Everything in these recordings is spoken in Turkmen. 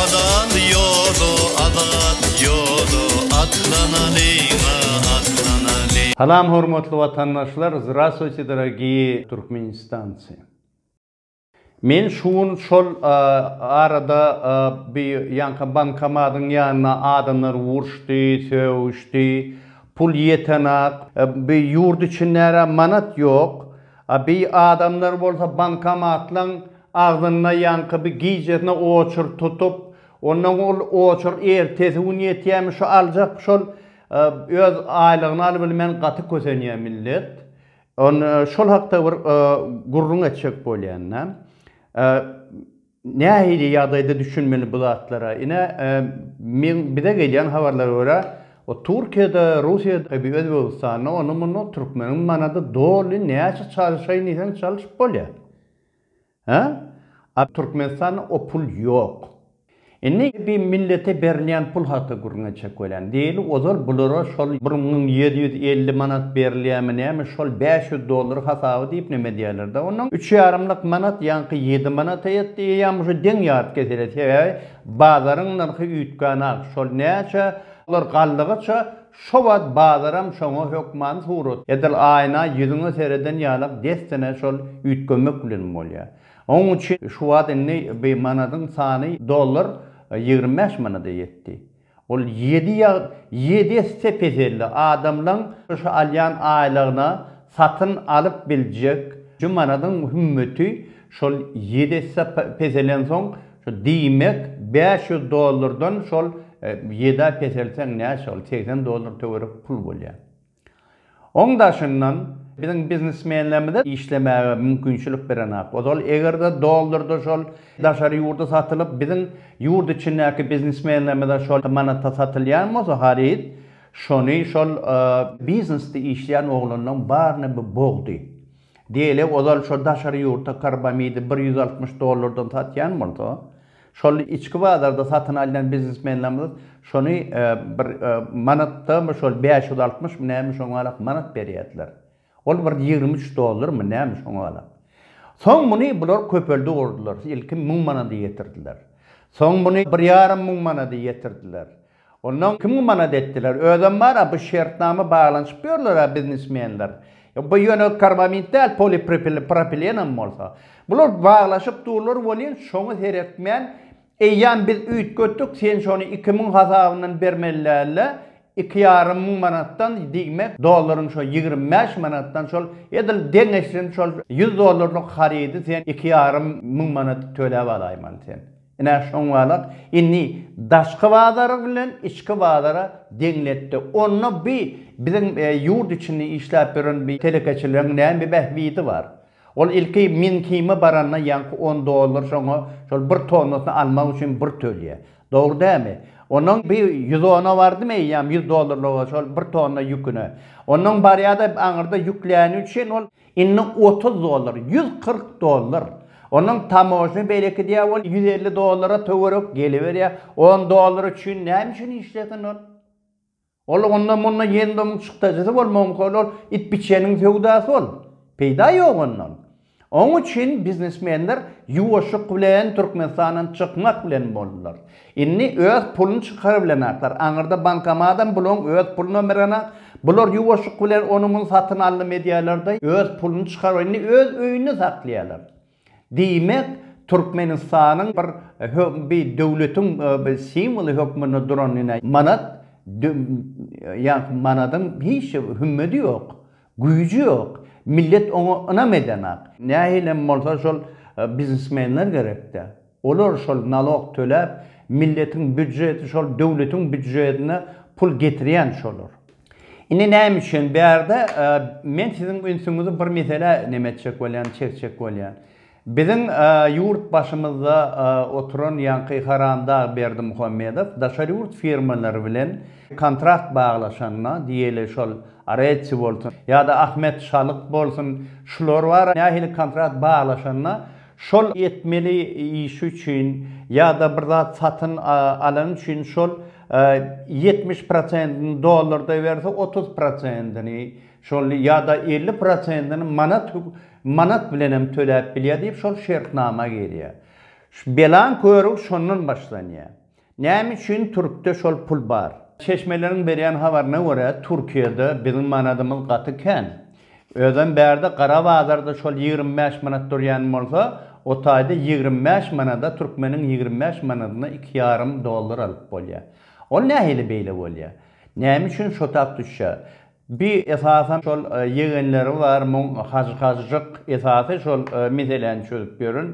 Azat ýoda, azat ýoda, atlanalyň-a, atlanalyň. Salam hormatly watandaşlar Zdraswiti dorogiýi Turkmenistanci. Men şu gün şol arada bi ýanka bankomadyň ýanyna adamlar urşdy, sögüşdi, pul ýetenak, bi ýurt içindärä manat ýok, A bi adamlar bolsa bankomatlaň agzynda ýaňky bi gijesine oçur tutup, onnoň ol oçur ertesi gün ýetýämi şu aljak şol öz aýlygyny alybilmän gaty kösenýä millet. Şol hakda bir gürrüň etjek bolýan-da. Nähili ýagdaýda düşünmeli bu zatlara? Ine, men bize gelýän habarlara görä, o Türkiýede, Russiýada, ebi Özbegistanda, onda-munda türkmeniň manady doly näçe çalyşaýyn diýseň çalyşyp bolýar. Hä? A Türkmenistanda o pul ýok. Indi ebi millete berilýän pul hakda gürrüň etjek. Welin, diýli, ozal bulara şol bir müň ýedi ýüz elli manat berilýärmi näme, şol bäş ýüz dollar hasaby diýip neme edýärler-dä onuň. Üç ýarymlyk manat ýaňky ýedi manata ýetdi, eýýäm uje deň ýaryp kesilýär, sebäbi bazaryň nyrhy üýtgän-ak, şol näçe, olar galdygyça, şo wagt bazaram şoňa hökman surat, edil aýna ýüzüňe sereden ýalak dessine şol üýtgemek bilen bolýar. Onuň üçin şu wagt indi bir manadyň sany dollar ýigrimi bäş manada ýetdi. Ol ýedi ýag ýedi esse peseldi. Adamlaň şu alýan aýlygyna satyn alyp biljek şu manadyň hümmeti şol ýedi esse peselensoň şu diýmek bäş ýüz dollardan şol ýedä peselseň näçe ol segsen dollar töwerek pul bolýar. Oň daşyndan, biziň biznesmenlerimize işlemäge mümkinçilik berenok. Ozal eger-de dollarda şol daşary ýurda satylyp, biziň ýurt içindäki biznesmenlerimize şol manatda satylýan bolsa haryt, şony şol biznesde işleýän oglanlaryň baryna bu bogdy. Diýeli, ozal şo daşary ýurta karbamidi bir ýüz altmyş dollardan satýan bolsa, Şol içki bazarda satyn alýan biznesmenlerimiz şony bir manatdamy şol bäş ýüz altmyşmy näme şoňa galak manat berýärdiler. Ol bir ýigrimi üç dollarmy näme şoňa galak. Soň muny bular köpeldi urdular. Ilki müň manada ýetirdiler. Soň muny bir ýarym müň manada ýetirdiler. Ondan kim gumanat etdiler. Özem bar-a bu şertnama baglanyşyp ýörler-ä biznesmenler. Bu ýöne karbamid däl, polipropilenem bolsa. Bular baglaşyp durlar welin, şoňa seretmän, eýýäm biz üýtgetdik, sen şony iki müň hasabyndan bermeli däl-de, iki ýarym müň manatdan diýmek, dollaryň şo ýigrimi bäş manatdan şol edil deňeşsin, şol ýüz dollarlyk harydy sen iki ýarym müň manat töläp alaýmaly sen. Ine, şoňňalak indi daşky bazary bilen içki bazara deňletdi. Onda bi biziň ýurt içinde işläp ýören bi telekeçileriň näme bähbidi bar? Ol ilki Mýunhime baranda ýaňky on dollar şoňa şol bir tonnasyny almak üçin bir tölýär. Dogry dämi? Onnoň bi ýüz ona bardymy eýýäm ýüz dollarlyga şol bir tonna ýüküne. Onnoň barýa-da aňyrda ýükläni üçin ol Indi otuz dollar, ýüz kyrk dollar. Onuň tamožna beýleki diýýär, ol ýüz elli dollara töwerek geliberýär. On dollar üçin näme üçin işlesin ol? Ol onda munda ýendomuň çykdajysy bolmagy mümkin, ol it-biçäniň söwdasy ol. Peýda ýok ondan. Oň üçin biznesmenler ýuwaşlyk bilen Türkmenistandan çykmak bilen boldular. Inni öz pulun çykarybilenaklar, aňyrda bankomadam bulaň öz puluna mirenak, bular ýuwaşyk bilen ony muny satyn aldym edýälerda öz pulun çykaryp inni öz öýünde saklaýalar. Diýmek Türkmenistanyň bir bi döwletiň bi simwoly hökmünde duran ine manat ýaňky manadyň hiç hümmedi ýok, güýji ýok, millet oňa ynam edenak. Nähilem bolsa şol biznesmenler gerekdä. Olar şol nalog töläp milletiň býudjeti şol döwletiň býudjetine pul getirýän şolar. Indi näme üçin bärde men siziň ünsüňizi bir meselä neme etjek bolýan çekjek bolýan. Biziň ýurt başymyzda oturan ýaňky haramdag Berdimuhamedow daşary ýurt firmalary bilen kontrakt baglaşanda diýeli şol Aretsi bolsun ýada Ahmet Şalyk bolsun şular bar nähili kontrakt baglaşanda Şol etmeli işi üçin ýa-da bir zat satyn alany üçin şol ýetmiş prosentini dollarda berse, otuz prosentini şol ýa-da elli prosentini manat manat bilen hem töläp bilýär diýip şol şertnama girýär. Belaň körügi şondan başlanýar. Näme üçin Türkde şol pul bar? Çeşmeleriň berýän habaryna görä, Türkiýede biziň manadymyz gaty kän. Özem bärde gara bazarda şol ýigrimi bäş manat durýan bolsa, o taýda ýigrimi bäş manada türkmeniň ýigrimi bäş manadyna iki ýarym dollar alyp bolýar. Ol nähili beýle bolýar? Näme üçin şo tak düşýär? Bi esasan şol ýegenleri bar muň hajy hajyjyk esasy şol meseläni çözüp ýören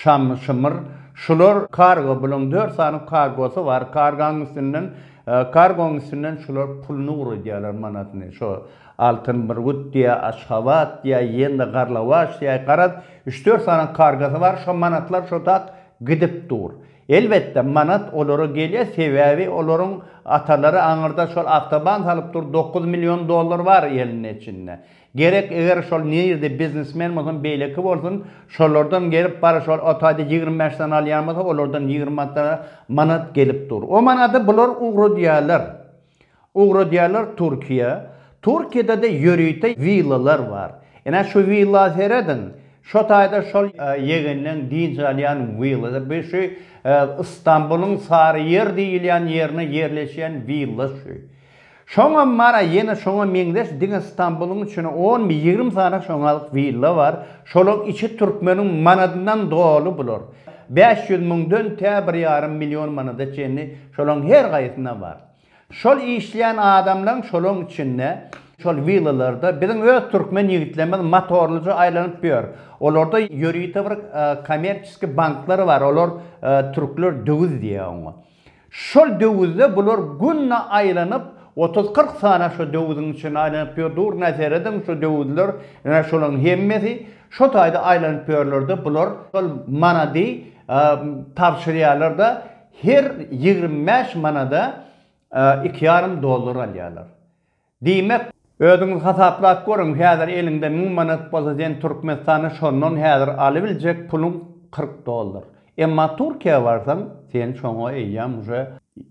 şamy şymyr şular kargo bulaň dört sany kargosy bar kargaň üstünden kargoň üstünden şular puluny uradýalar manatyny şo altyn burgut diýä aşgabat diýä ýende garlawaç diýä garaz üç dört sany kargasy bar şo manatlar şo tak gidip dur Elbetde manat olara gelýär sebäbi olaryň atalary aňyrda şol awtoban salyp dur dokuz million dollar bar elinde içinde. Gerek eger şol nirde biznesmen bolsun beýleki bolsun şolardan gelip bar şol otaýda ýigrimi bäş sany alýan bolsa olardan ýigrimi manat gelip dur. O manady bular ugradýarlar. Ugradýarlar Türkiýä. Türkiýede-de ýörite willalar bar. Ine, şu willa serediň. Şo taýda şol ýegenleň dynç alýan willasy. Bu şu Istanbulyň Saryýer diýilýän ýerine ýerleşýän willa şu. Şoňam bar-a, ýene şoňa meňzeş diňe Istanbulyň içine onmy, ýigrimi sany şoňalyk willa bar. Şolaryň içi türkmeniň manadyndan doly bular. Bäş ýüz müňden tä bir ýarym million manada çenli Şolaň her gaýsyna bar. Şol işleýän adamlaň şolaň içinde şol willalarda biziň öz türkmen ýigitlerimiz motorlyja aýlanyp ýör. Olarda ýörite bir kommerçiski banklar bar. Olar türkler döwüz diýýär oňa. Şol döwüzde bular günde aýlanyp otuz-kyrk sany şo döwüziň içinde aýlanyp ýör. Durna serediň şo döwüzler ine şolaň hemmesi şo taýda aýlanyp ýörlerde bular şol manady tabşyrýarlar-da Her ýigrimi bäş manada iki ýarym dollar alýarlar. Diýmek. Özüňiz hasaplap görüň, häzir eliňde müň manat bolsa sen Türkmenistanda şondan häzir alybiljek puluň kyrk dollar. Emma Türkiýä barsaň, sen şoňa eýýäm uje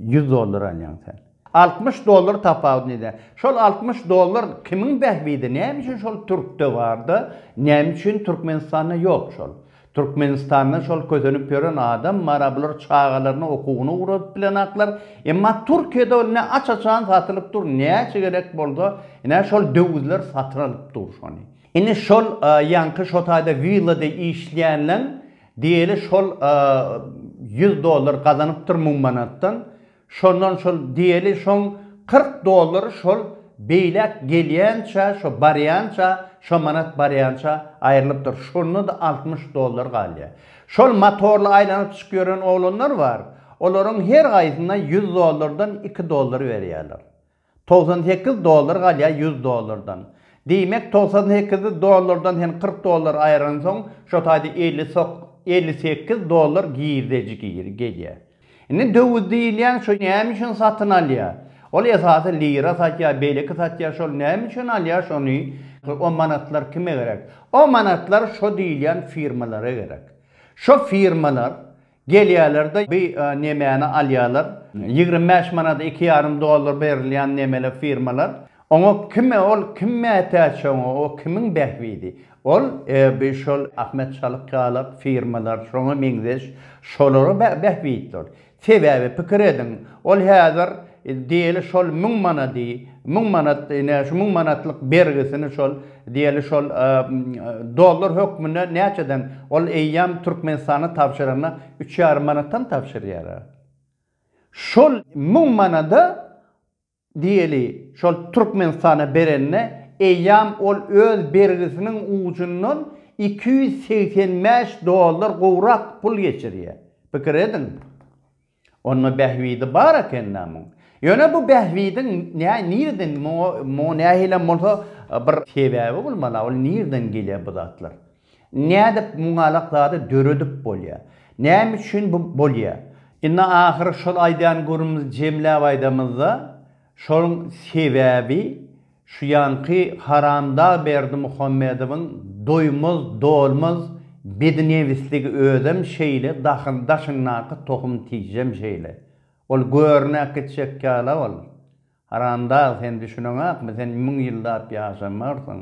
ýüz dollar alýaň sen. Altmyş dollar tapawut nide? Şol altmyş dollar kimiň bähbidi näme üçin şol türkde barda näme üçin türkmenistanda ýok şol türkmenistanda şol kösenip ýören adam bara bular çagalaryny okuwyna ugradyp bilenaklar emma türkiýede ol ne aç açan satylyp dur näçe gerek bolsa ine şol döwüzler satyn alyp dur şony indi şol ýaňky şotaýda willada işleýänleň diýeli şol ýüz dollar gazanypdyr müň manatdan Şondan şol diýeli şoň kyrk dollary şol beýläk gelýänçä şo barýança şo manat barýança aýrylypdyr şondada altmyş dollar galýa şol matorly aýlanyp çykyp ýören oglanlar bar olaryň her gaýsyna ýüz dollardan iki dollar berýäler Togsan sekiz dollar galýar ýüz dollardan. Diýmek, togsan sekiz dollardan sen kyrk dollar aýyransoň, şo taýda elli sok, elli sekiz dollar girdeji gir, gelýär. Indi döwüz diýilýän şo näme üçin satyn alýar? Ol esasy lira satýar, beýleki satýar, şol näme üçin alýar şony? O manatlar kime gerek? O manatlar şo diýilýän firmalara gerek. Şo firmalar Gelýärler-de, bi nemäni alýarlar. Ýigrimi bäş manada iki ýarym dollar berilýän nemeli firmalar. Oňa kime ol, kim mätäç oňa, o kimiň bähbidi? Ol, bi şol Ahmet Çalyk ýaly firmalar, şoňa meňzeş, şolara bähbitdir. Sebäbi, pikir ediň, ol häzir, Diýeli şol müň manady, müň manat, ine, şu müň manatlyk bergisini şol, diýeli, şol dollar hökmünde näçeden, ol eýýäm Türkmenistana tabşyranda üç ýarym manatdan tabşyrýar-a. Şol müň manada, diýeli, şol Türkmenistana berende, eýýäm ol öz bergisiniň ujundan iki ýüz segsen bäş dollar gowrak pul geçirýär. Pikir ediň! Onda bähbidi bar ekendä muň. Ýöne bu bähbidiň nä nireden muňa muňa nähilem bolsa bir sebäbi bolmaly-a ol nireden gelýär bu zatlar? Nädip muňalak zady döredip bolýar? Näme üçin bu bolýar? Indi ahyry şol aýdýan gürrümizi jemläp aýdamyzda şoň sebäbi Şu ýanky haramdag Berdimuhamedowyň doýmaz dolmaz bednebisligi özem şeýle dahyň daşyndaky tohum tijjem şeýle. Ol görnäk gitjek ýala ol. Haramdag sen düşüneňakmy sen müň ýyllap ýaşamarsyň.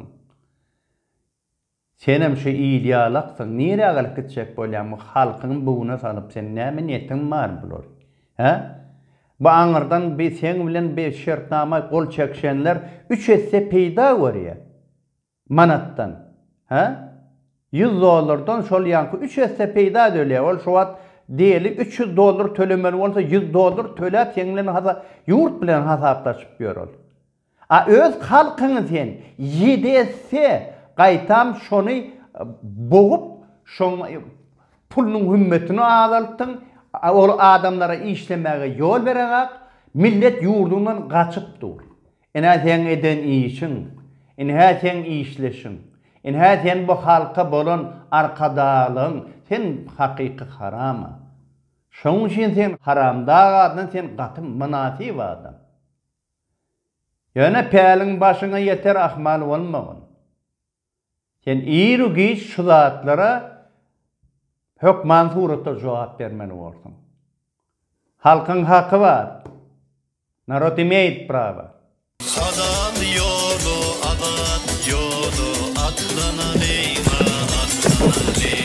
Senem şu il ýalaksyň, nirä galyp gitjek bolýaň bu halkyň buguna salyp seň näme niýetiň bar bular? Hä? Bu aňyrdan bi seň bilen bi şertnama gol çekişenler üç esse peýda görýä manatdan, hä? Ýüz dollardan şol ýaňky üç esse peýda dölýä ol şu wagt diýeli üç ýüz dollar tölemeli bolsa ýüz dollar töläp seň bilen hasa ýurt bilen hasaplaşyp ýör ol. A öz halkyňy sen ýedi esse gaýtam şony bogup şoň pulunyň hümmetini azaltdyň ol adamlara işlemäge ýol bereňak millet ýurduňdan gaçyp dur inä seň eden işiň inhä seň işleşiň inhä sen bu halka bolan arkadaglygyň sen hakyky harama şoň üçin sen haramdag adam sen gaty mynasyp adam. Ýöne päliň başyňa ýeter ahmal bolmagyn. Sen iru-giç şu zatlara hökman suratda jogap bermeli borsuň. Halkyň haky bar. Narod imeýit prawa. Azat ýoly azat ýoly atlanalyňa atlanalyň.